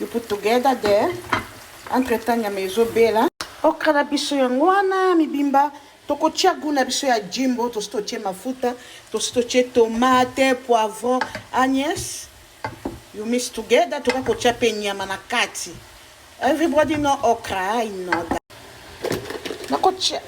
You put together there. Entre temps nyama ezo bela. Okra na biso yango wana mibimba. tokotia goût na biso ya jimbo tosi totie mafuta tosi totie tomate poivron agnes you miss together toka kotia mpe nyama na kati everybody know okra i know that nakotia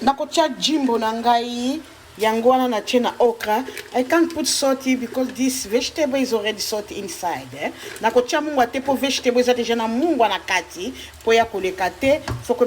nakotia jimbo na ngai Yango wana na tye na okra. I can't put salt here because this vegetable is already salt inside. Eh? Na kotya mungwa te mpo vegetable eza deja na mungwa na kati mpo ya koleka te. Foko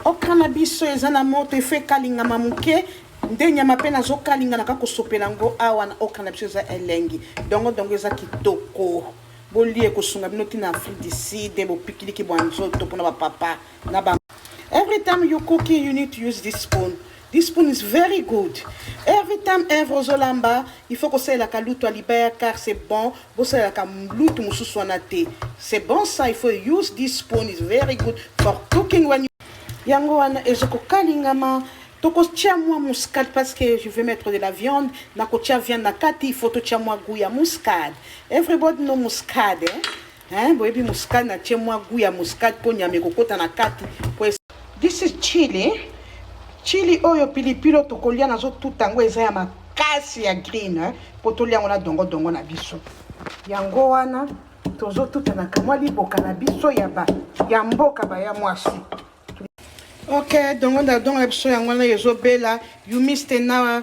okra na biso eza na moto efo ekalingama moke nde nyama mpe nazokalinga na kaka kosopela yango awa na okra na biso eza elengi dongo dongo eza kitoko bolie ekosunga bino ntina afrique du sud bopikiliki bwa nzoto mpona bapapa na ba every time you cooking you need to use this spoon This spoon is very good. Every time ever ozolamba, il faut kosalelaka lutu ya libaya car c'est bon. Bosalelaka lutu mosusu wana te. C'est bon ça, il faut use this spoon is very good for cooking when you... Yango wana ezo kokalingama tokotia mwa muscade parce que je vais mettre de la viande nakotia viande na kati il faut totia mwa gout ya muscade everybody no muscade eh? Hein, boyebi muscade na tie mwa goût ya muscade po nyama ekokota na kati po This is chili. Chili oyo pilipilo tokolia nazo tuta yango eza ya makasi ya green hein? po tolia yango na dongo dongo na biso. Yango wana tozo tuta na kamwa liboka na biso ya ba ya mboka ba ya mwasi. Ok, dongo na dongo na biso yango wana ezo bela. You missed an hour.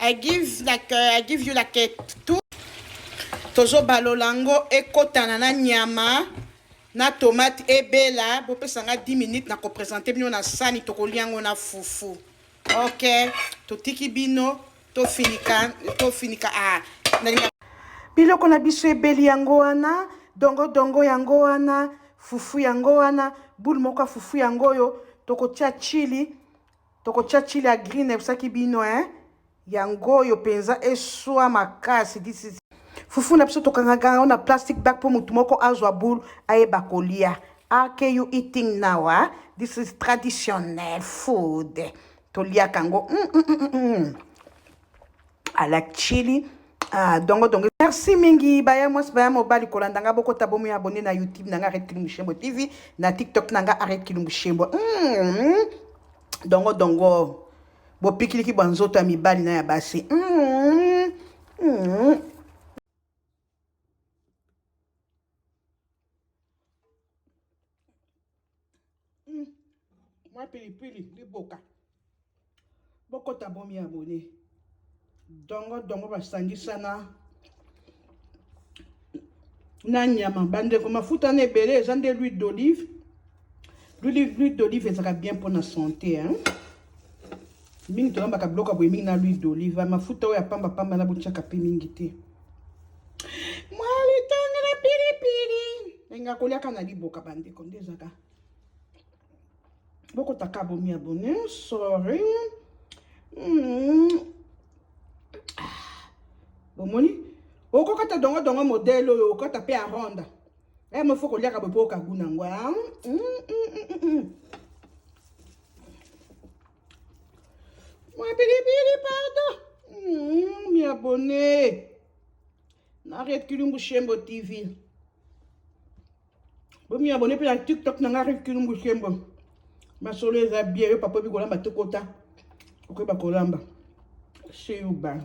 I give like uh, I give you like tout tozo balola ngo ekotana na nyama na tomate ebela bopesa nga 10 minutes na kopresente bino na sani tokolia yango na fufu ok totiki bino tofinika tofinika ah, biloko na biso ebeli yango wana dongodongo yango wana fufu yango wana bule moko ya fufu yango oyo tokotia chili Tokotia chili ya green nayebisaki bino hein. Yango oyo penza eswa makasi this is fufu na biso tokangaka yango na plastic bag mpo motu moko azwa boule ayeba kolia ake you eating now ah? this is traditionnel food toliaka yango mm, mm, mm, mm. mm. à la chili ah dongo dongo merci mingi baya mwasi baya mobali kolanda nga bokota bomi abonne na youtube na nga arrete kilumbu shembo tv na tiktok na nga arrete kilumbu shembo mm. dongo dongo bopikiliki bwa nzoto ya mibali na ya basi mm. Mm. Mm. mwa pilipili liboka bokota bomi abone dongo dongo basangisa na na nyama bandeko mafuta na ebele eza nde l'huile d'olive L'huile d'olive ezalaka bien mpo na sante hein? mingi tolambaka biloko ya boye mingi na l'huile d'olive mafuta oyo ya pamba pamba na botyaka mpe mingi te mwa litonge na pilipili enga kolyaka na liboka bandeko nde ezaka bokotaka bomi abone sorry mm. Ah. bomoni okokata dongo dongo modele oyo okokata mpe aronda Eh, mo faut koliaka boye mpo okagu nango ah, mm, mm, mm, mwa pilipili pardon mi abonne na red kilumbu shembo tv bomi abonne mpe na tiktok na nga red kilumbu shembo masolo eza bie yo papa obi kolamba tokota okoyeba kolamba seyuba